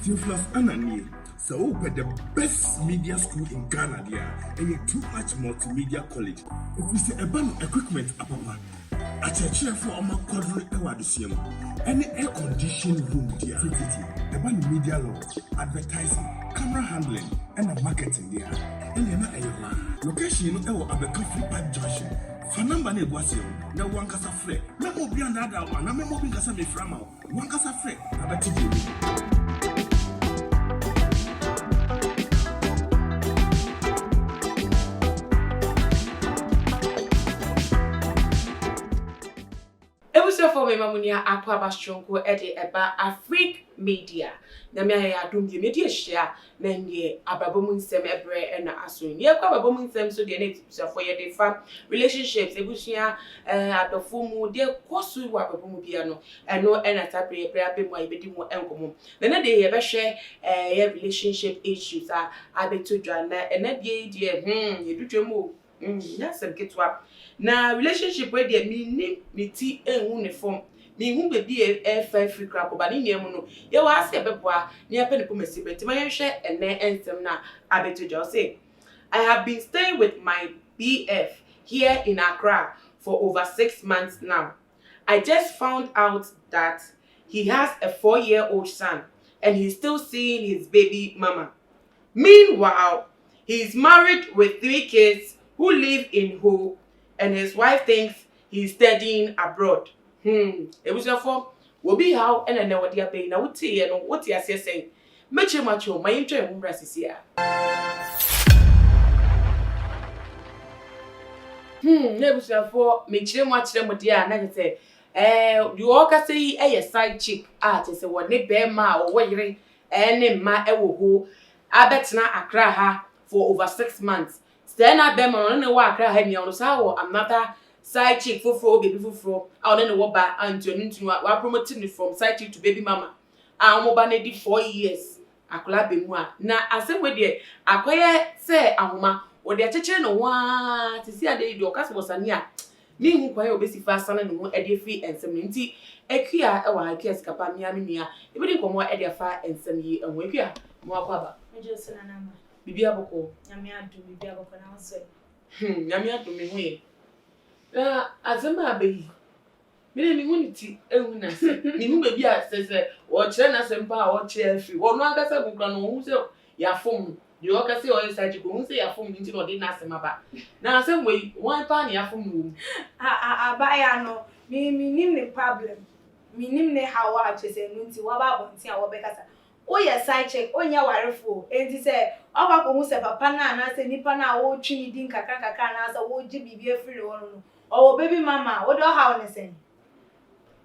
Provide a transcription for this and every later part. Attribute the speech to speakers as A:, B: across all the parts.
A: Theophilus Anna nie, sɛ wopɛ the best media school in Ghana deɛ a, ɛyɛ Too Much Multimedia College. Ɛfiri sɛ ɛba no equipment apapa, akyerɛkyerɛfoɔ a wɔakwadro wɔ adesua mu, ɛne air conditioned room deɛ a tititi. Ɛba no media law, advertising, camera handling ɛna marketing deɛ a, ɛnneɛ na ɛyɛ hɔ ara. Location no ɛwɔ Abɛka Free Park Junction. Fa number no a ɛgu aseɛ no na wo ankasa frɛ. Mɛma obiara nnaadaa wo anaa mɛma obi nka sɛ mefrɛ ama wo.
B: Wɔn kasa frɛ abɛte deɛ w'abu. Abusuafoɔ mema mo nua Akoaba Soronko de ɛba Afrique Media. Nyame ayɛ yɛn adom bio madi ahyia Na ndeɛ ababɔ mu nsɛm ɛbrɛ na aso yi. Ndeɛ ɛkɔ ababɔ mu nsɛm so deɛ na atibusuafoɔ yɛde fa relationships, abusua, eh, adɔfoɔ mu, deɛ ɛkɔ so wɔ ababɔ mu biara no, ɛno na saa berɛ yi ɛberɛ aba mu a yɛbɛdi ho nkɔmmɔ. Na ɛnɛ deɛ yɛbɛhwɛ ɛyɛ relationship issues a abɛtɔ dwa. Na ɛnɛ deɛ yi deɛ, hmm, yɛdutwam o. Nnyɛ asɛm ketewa. Na relationship wei deɛ menni me ti ngu ne fam. Menhu baabi a ɛrefa afiri koraa kɔ. But ne nyinaa mu no, yɛwɔ ha sɛ yɛbɛboa na yɛapɛ ne koma si berɛ. Nti ma yɛnhwɛ ɛnnɛ nsɛm no a abɛto dwa. Ɔse, I have been staying with my BF here in Accra for over six months now. I just found out that he has a four year old son and he's still seeing his baby mama. Meanwhile, he is married with three kids who live in Ho and his wife thinks he is studying abroad. Hmm, abusuafoɔ, obi haw na nnɛ wɔde aba yi na woteeɛ no wote aseɛ sɛn? Mɛkyerɛ mu akyerɛ wo, ma yɛntwa yɛn ho mmra sisiaa. Hmm, abusuafoɔ, mekyerɛ mu akyerɛ mo deɛ a na kyerɛ sɛ ɛɛ deɛ ɔrekasa yi yɛ side chick a kyerɛ sɛ wɔne barima a ɔwɔ yere and ne mma wɔ ho abɛtena Accra ha for over six months. Sɛɛ na bɛrima no a ɔne no wɔ Accra ha nyinaa, ɔno san wɔ another side chick foforɔ, baby foforɔ a ɔne no wɔ ba a nti ɔno nti no wɔapromote no from side chick to baby mama a wɔn ba no adi four years akwadaa bɛmu a na asɛm wei deɛ akɔyɛ sɛ ahoma, ɔde akyekyere ne ho ara, seesei adeɛ yi deɛ ɔka sɛ wɔsane a Minhu kwan a obesi fa asane ne ho de afi nsɛm no nti. Akua wɔ ha, Akua sika pa, me ara me nua. Yɛbɛdi nkɔmmɔ de afa nsɛm yi ho. Akua, mo akɔ aba? Megye wo so Nana Ama. Biribiara
C: bɔkɔɔ?
B: Nyame adom, biribiara
C: bɔkɔɔ, na wo nso ɛ? Hmm, Nyame
B: adom, me ho ye. Na asɛm a aba yi, me deɛ menhu ne ti, nhu n'ase. Menhu baabi a sɛ sɛ wɔkyerɛ n'asɛm paa a ɔkyerɛ firi hɔ. Ɔno ankasa gu koraa no, ɔhu sɛ yɛafom no. Nea ɔka sɛ ɔyɛ saa akyi koraa, ohun sɛ yɛafom no nti na ɔde n'asɛm aba. Na asɛm wei, hwan paa na yɛafom no wom? Ah-ah, abaayewa
C: no, me, minnim ne problem. Minnim ne haw a kyerɛ sɛ ɛno nti waba abɔnten a wɔbɛkasa. Woyɛ side chick, wonyɛ warefo o, enti sɛ woakɔ akohu sɛ papa no anaasɛ nipa no a woretwe ne din nkakrankakra anaasɛ woregye biribi afiri ne hɔ no no, ɔwɔ baby mama a, wode ɔhaw no sɛn?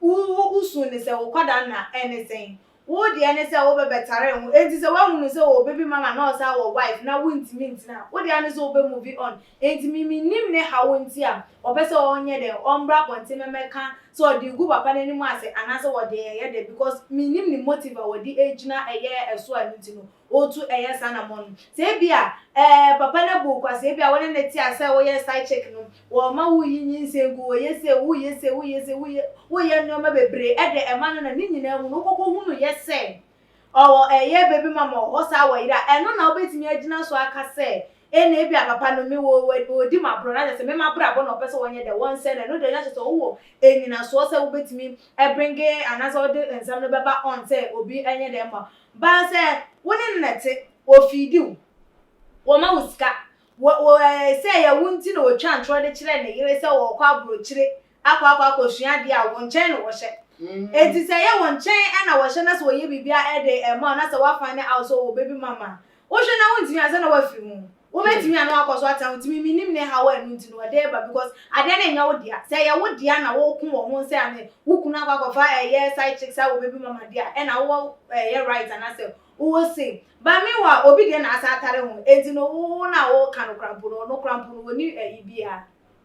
C: Wo, wo, wusuu no sɛ wo nkwadaa nna, ɛne sɛn? Wo deɛ ne sɛ wobɛbɛtare ho enti sɛ wahunu sɛ ɔwɔ baby mama na ɔsan wɔ wife na wontumi ntena a, wo deɛ ane sɛ wobɛ move on. Enti me mennim ne haw nti a ɔpɛ sɛ ɔnyɛ dɛn, ɔmbra abɔnten mɛmɛka sɛ ɔde regu papa no anim ase anaasɛ ɔde reyɛ dɛn because mennim ne motive a ɔde agyina ɛyɛ ɛso a ɛno nti no ɔretu ɛyɛ saa anammɔn no. Sɛ ebia ɛɛ papa no abu wo kwa, sɛ ebia wo ne no te a sɛ woyɛ side chick no, wɔma wo yi nyinsɛn gu, wɔyɛ sei, woyɛ sei, woyɛ sei, woyɛ woyɛ nneɛma bebree, ɛde ɛma no na ne nyinaa mu no wokɔkɔ hu no yɛ sɛ ɔwɔ ɛyɛ baby mama wɔ hɔ saa wɔyere a, ɛno na wobɛtumi agyina so aka sɛ ɛna ebia papa no me wɔ wɔdi m'aborɔ na kyerɛ sɛ me m'abrabɔ na ɔpɛ sɛ wɔnyɛ dɛ wɔnsɛ no, ɛno deɛ na kyerɛ sɛ wowɔ ɛnyinasoɔ sɛ wobɛtumi ɛbringe anaasɛ wode nsɛm no bɛba on sɛ obi ɛnyɛ dɛ mma Baa sɛ wo ne no na ɛte, ɔfiidi wo, ɔma wo sika, wɔ wɔ ɛɛ sɛ ɛyɛ wo nti na ɔtwa ntorɔ de kyerɛ ne yere sɛ ɔrekɔ aburokyire akɔ akɔ akɔsua adeɛ a, wo nkyɛn na ɔhyɛ. Enti sɛ ɛyɛ wo nkyɛn na ɔhyɛ na sɛ ɔyɛ biribi a ɛde ɛma wo na sɛ woafane out sɛ ɔwɔ baby mama a, Wohwɛ na wontumi ansa na woafiri ho. Wobɛtumi a na woakɔ so atena ho. Tumi menim ne haw a ɛno nti no ɔde reba because adeɛ no nyɛ wo dea. Sɛ ɛyɛ wo dea na woko wɔ ho sɛ ane wo kunu akɔ akɔfa ɛyɛ side chick saa wɔ baby mama deɛ a ɛna wowɔ ɛyɛ right anaasɛ wowɔ say. But meanwhile obi deɛ na asan atare ho. Enti no wo na woka no koraa mpo no ɔno koraa mpo no ɔnni ɛyi biara.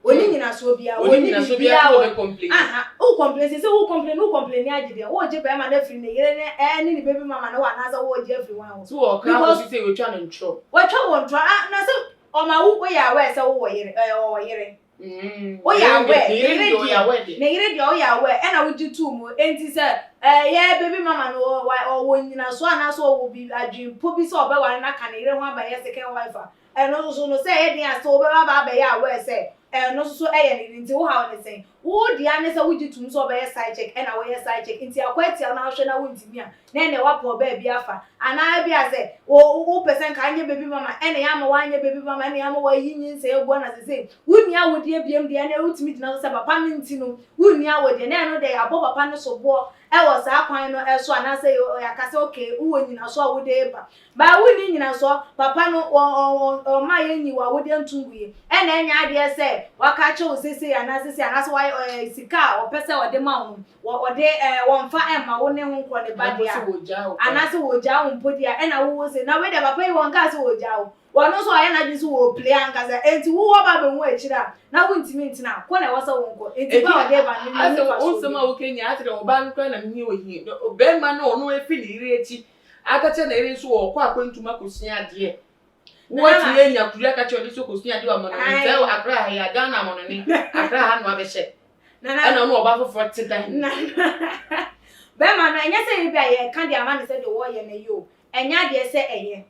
C: Ɔnni nyinasoɔ biara, Ɔnni ɔnni nyinasoɔ biara biribiara, a ɔbɛ ɔn- complaini. aha, wo
B: complain, sɛ
C: sɛ wo complain, wo complain agye deɛ, wogye bɛrima no afiri ne yere ne ɛɛ ne ne baby mama no hɔ anaasɛ wogye afiri wɔn hɔ, Nti wɔ ɔkra Because- kɔsi sɛ
B: watwa no ntorɔ.
C: watwa
B: wɔn
C: torɔ, ah, na
B: sɛ
C: ɔma wo, woyɛ aware sɛ wowɔ yere, ɛɛ ɔwɔ
B: yere,
C: Mm, Woyɛ ne yere aware, deɛ- ne ne yere yere deɛ ɔyɛ deɛ. aware deɛ. ne yere deɛ woyɛ aware, ɛna wogye too mu, enti sɛ ɛyɛ baby mama no ɔ- wa- ɔwɔ nyinasoɔ anaasɛ ɔwɔ biribi adwene po bi sɛ ɔbɛware no aka ne yere ho aba yɛ second wife a, Ɛno nso so no, sɛ ɛyɛ den a sɛ wobɛba aba abɛyɛ aware sɛ ɛno nso so yɛ ne de nti, wo haw ne sɛn? Wo de ara ne sɛ wogye tom sɛ ɔbɛyɛ side check ɛna woyɛ side check nti akɔ atia wo na wohwɛ na wontumi a, na ɛnneɛ woapɛ ɔbaa bi afa. Anaa ebia sɛ wo wopɛ sɛ nka anyɛ baby mama ɛna yɛamma woanyɛ baby mama ɛna yɛamma woayi nyinsɛn agu ɛna seesei wonni awodeɛ biom deɛ ɛnneɛ wotumi gyina so sɛ papa no nti no wonni awodeɛ na ɛno deɛ yɛabɔ papa no soboɔ ɛwɔ saa kwan no ɛso anaasɛ yɛaka sɛ okay wowɔ nyinaso a wode reba Baa wonni nnyinasoɔ, papa no, wɔ ɔmma yɛnyi wo awodeɛ nto ngu yi, ɛna ɛnyɛ adeɛ sɛ waka akyerɛ wo sesei anaa sesei anaasɛ wayɛ ɔɛ sika a ɔpɛ sɛ ɔde ma wo no, wɔ ɔde ɛɛ wɔnfa ɛmma wo ne ho nkorɔ ne ba deɛ a, anaasɛ wɔgyaa wo mpo deɛ a, ɛna wo wo se, na wei deɛ papa yi wɔnkaa sɛ wɔgyaa wo, wɔno nso wayɛ n'adwene sɛ wɔpire ankasa, enti wo wo aba abɛhu akyire a, na wontumi ntena, kɔ na ɛwɔ sɛ wo nkɔ,
B: enti ba a ɔde reba no, menni mfasoɔ biara. Aka kyerɛ na eri so wɔ ɔkɔ akwantu ma kosua adeɛ. Wo atumi anya kuri aka kyerɛ ɔde so kosua adeɛ wɔ amanɔne sɛ wɔ akra ha yi a Ghana amanɔne akra ha no abɛhyɛ. Ɛna ɔno ɔba foforɔ te da hin.
C: Bɛma no ɛnyɛ sɛ ebi a yɛka de ama no sɛ deɛ wɔyɛ no yɛ o. Ɛnyɛ adeɛ sɛ ɛyɛ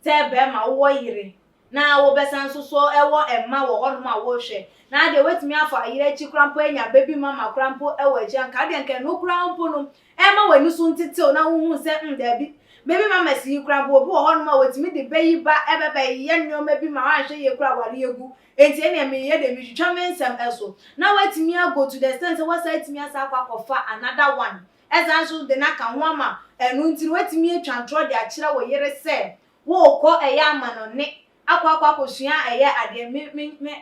C: sɛ bɛma wowɔ yere. Na wobɛsan nso so wɔ mma wɔ hɔnom a worehwɛ. Na adeɛ woatumi afa ayera akyi koraa mpo anya baby mama koraa mpo wɔ akyire anka adeɛ anka ɛno koraa mpo no ɛma w'ani so ntetew na wohunu sɛ mm daabi baby mamas yi koraa mpo obi wɔ hɔnom a wɔtumi de ba yi ba ɛbɛ bɛyɛ nneɛma bi ma anhwɛ yie koraa awareɛ agu enti ɛneɛ meyɛ deɛ metwitwa me nsɛm ɛso na woatumi ago to the extent sɛ woasan atumi asan akɔ akɔfa another one ɛsan nso de no aka ho ama ɛno nti no woatumi atwa ntorɔ de akyerɛ wo yere sɛ Wo kɔ ɛyɛ ama no ne akɔ akɔ akɔ sua ɛyɛ adeɛ me me me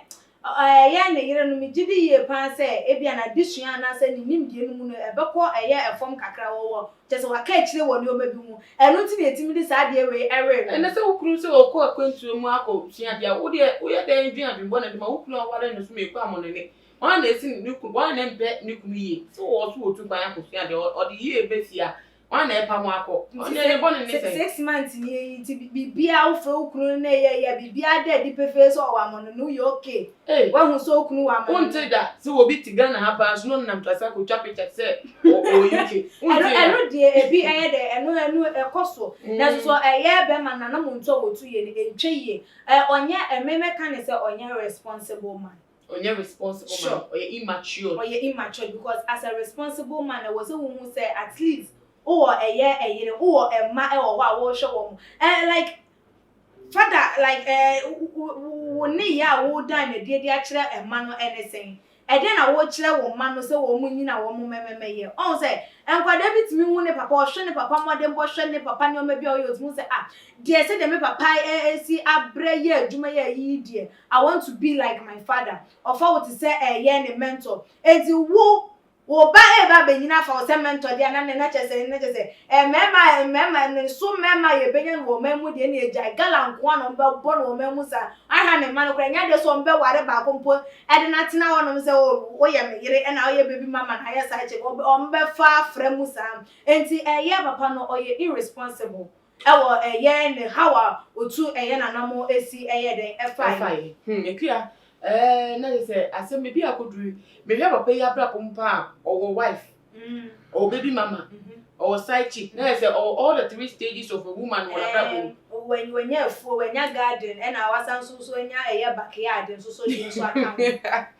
C: ɛyɛ ne yere no me gye di yie paa sɛ ebia na de sua anaa sɛ ne nimdeɛ no mu no ɛbɛkɔ ɛyɛ ɛfam kakra wɔ wɔ kyerɛ sɛ waka akyire wɔ nneɛma bi ho ɛno nti na ɛtumi de saa adeɛ wei ɛwere no. Ɛnɛ sɛ wo kunu sɛ
B: ɔkɔ akwantuo mu akɔ sua adeɛ a wo deɛ wo yɛ dɛn dwen adwen bɔne de ma wo kunu a woware no so meekɔ ama no ne wɔn a na ɛsi ne kunu wɔn a na ɛmpɛ ne kunu yie sɛ ɔwɔ so ɔtu kwan akɔ sua adeɛ ɔde yie bɛsi a wọn na ɛpa mo akɔ ɔne ne bɔne ne sɛ six months ni eyi nti
C: biribiara wofrɛ wo kunu na ɛyɛ yɛ biribiara da adi pefee sɛ ɔwɔ amɔ no no woyɛ okay hey wahu sɛ wo kunu wɔ amɔ no wonte da sɛ obi te
B: Ghana ha paa so na ɔnam trase akɔtwa picture te sɛ ɔwɔ UK wonte da ɛno deɛ
C: ebi ɛyɛ dɛ ɛno ɛno ɛkɔ so na so ɛyɛ bɛma nana mo nto a wɔtu yɛ no ɛntwa yie ɔnyɛ ɛmɛmɛka ne sɛ ɔnyɛ responsible man Ɔnyɛ
B: responsible man,
C: Sure. ɔyɛ
B: immatured. Ɔyɛ immatured because
C: as a responsible man ɛwɔ sɛ wo hu sɛ at least wo wɔ ɛyɛ ɛyere, wo wɔ ɛmma ɛwɔ hɔ a wo rehwɛ wɔn. Ɛɛ like father like ɛɛ wo wo wo wo nneyɛɛ a wo dan no ɛdeɛ de akyerɛ ɛmma no ɛne sɛn? Ɛdeɛn na wo kyerɛ wo mma no sɛ wɔn nnyina wɔn mmɛmɛmɛyɛ? Ɔhu sɛ nkwadaa bi tumi hu ne papa, ɔhwɛ ne papa mmɔdenbɔ, hwɛ ne papa nneɛma bi a ɔyɛ, ɔtumi hu sɛ ah deɛ sɛdeɛ me papa ɛɛ ɛsi abrɛ yɛ adwuma yɛ ayi yi deɛ I want to be like my father Ɔfa wo te sɛ ɛɛyɛ ne mentor Enti wo, wo ba eeba abenyin afa wo sɛ mentor deɛ a na nɛn akyɛ sɛn? Nɛkyɛ sɛ ɛɛ mɛɛma a mɛɛma ne so mɛɛma a yɛbɛnya no wɔ ɔman mu deɛ nea gyae gala nkoaa na ɔmbɛbɔ no wɔ ɔman mu saa Ɔhwɛ a ne mma no koraa ɛnyɛ adeɛ sɛ ɔmbɛware baako mpo ɛde no atena hɔ nom sɛ oh woyɛ me yere ɛna woyɛ baby mama na ayɛ side chick ɔmbɛfa afra mu saa Enti ɛɛyɛ papa no ɔyɛ irresponsible Ɛwɔ ɛyɛ ne haw a otu ɛyɛ na nam esi ɛyɛ dɛn ɛfa yi. Hmm akua
B: ɛɛ na yɛ sɛ asɛm bɛ bi a kɔ duru me hwɛ papa yi abrabɔ mu paa ɔwɔ wife ɔwɔ baby mama ɔwɔ side chick na yɛ sɛ ɔwɔ all the three stages of a woman wɔ nabrabɔ mu. Ɛɛ wanya afuo
C: wanya garden ɛna wasan nso nso anya ɛyɛ backyard nso so deɛ nso aka ho.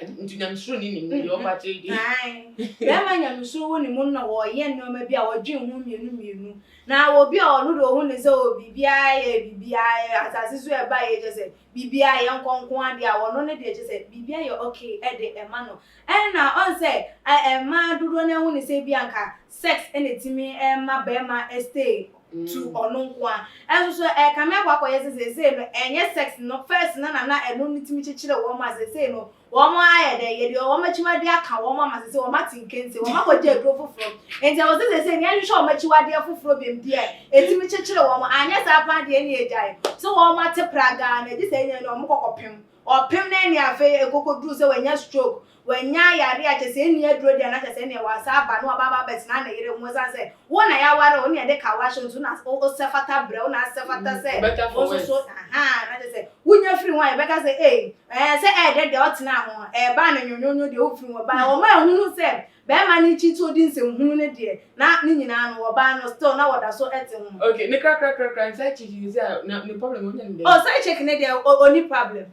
C: Nti nyamesuro
B: ni nim deɛ ɔma akyerɛ deɛ. Bɛrima
C: nyamesuro wɔ ne mu na wɔyɛ nneɛma bi a wɔdwen ho mmienu mmienu. Na obi a ɔno de ɔhu ne sɛ o biribiara yɛ biribiara asase so ɛba yɛ kyɛ sɛ biribiara yɛ nkɔnkɔn adeɛ a ɔno ne deɛ kyɛ sɛ biribiara yɛ okay ɛde ɛma no. Ɛna ɔn sɛ ɛmaa dodoɔ no ahu ne sɛ ebi anka sex na etumi ma bɛɛma stay to ɔno nkoa nso so ɛkame akɔ akɔ yɛ sɛ seesei no ɛnyɛ sex no first no na na ɛno no tumi kyekyere wɔn a seesei no wɔn ayɛ dɛ yɛde wɔn akyiwadeɛ aka wɔn ama seesei wɔn ate nkense wɔn akɔ gye aduro foforo nti ɛwɔ sɛ seesei no yɛhwehwɛ wɔn akyiwadeɛ foforo bem deɛ etumi kyekyere wɔn anyɛ saa paa deɛ ɛne agyae so wɔn ate pragaa na gye sɛ ɛnyɛ no wɔn kɔkɔ pem ɔpem na ɛne afei ɛkɔkɔ duru sɛ wɔanya stroke Wanya yare a kyerɛ sɛ ɛnni aduro deɛ a na kyerɛ sɛ ɛnneɛ wansa aba na waba abɛtena ne yere ho ɛsiane sɛ wo na yɛaware wo ne yɛde ka wo ahyɛ wo so na wosɛ fata brɛ wo na asɛ fata sɛ wo nso so ahaa na kyerɛ sɛ wonya firi ho a yɛbɛka sɛ ei ɛɛ sɛ ɛyɛ dɛ deɛ ɔtenaa ho ɛɛbaa no nwonwonwo deɛ wofiri ho baeɛ wɔma ahunu sɛ bɛɛma no kyi sɛ ɔdi nsɛm hunu no deɛ na ne nyinaa no wɔbaa no still na wɔda so ɛte ho. Okay ne krakrakrakra ne
B: side chick ne sɛ na ne problem ɔnya ne dɛn. Oh side chick ne deɛ
C: ɔnni problem.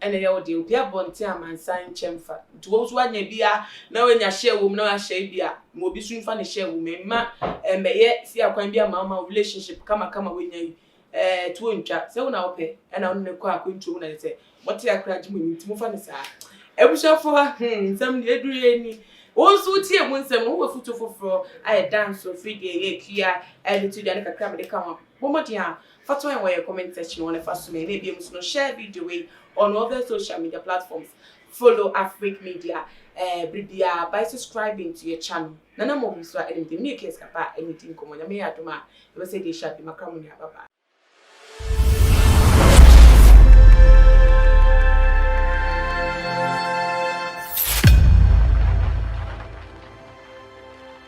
B: Ɛna ɛyɛ wo deɛ obi abɔ nte amansan nkyɛ mfa nti wo nso woanya bi a na woanya share wɔ mu na woahyɛ ebi a ma obi nso mfa ne share wɔ mu mma ɛmmɛyɛ si akwan bi ama wo ma wo relationship kama kama woanya yi ɛɛ tuo ntwa sɛ wo na wopɛ ɛna wo ne no kɔ akwantuo mu na sɛ mote akora gye mo ani nti mofa no saa abusuafoɔ hmm nsɛm deɛ ɛduru yɛ ni wo nso wotie mu nsɛm no wowɔ foto foforɔ a ɛda nso firi deɛ ɛyɛ tua ɛde to dwa ne kakra mede ka ho bɔ mmɔden a Fa to yɛn wɔ yɛn comment section hɔ na fa som yɛn na ebia mu nso no share video wei on all the social media platforms follow Afrique media eh, bere biara by subscribing to yɛn channel Nana Mob nso a ɛna me din me ne Case Kappa ɛna ɛdi nkɔmmɔ Nyame yɛ adom a yɛbɛsɛ de ahyia bio makra mo nua bye bye.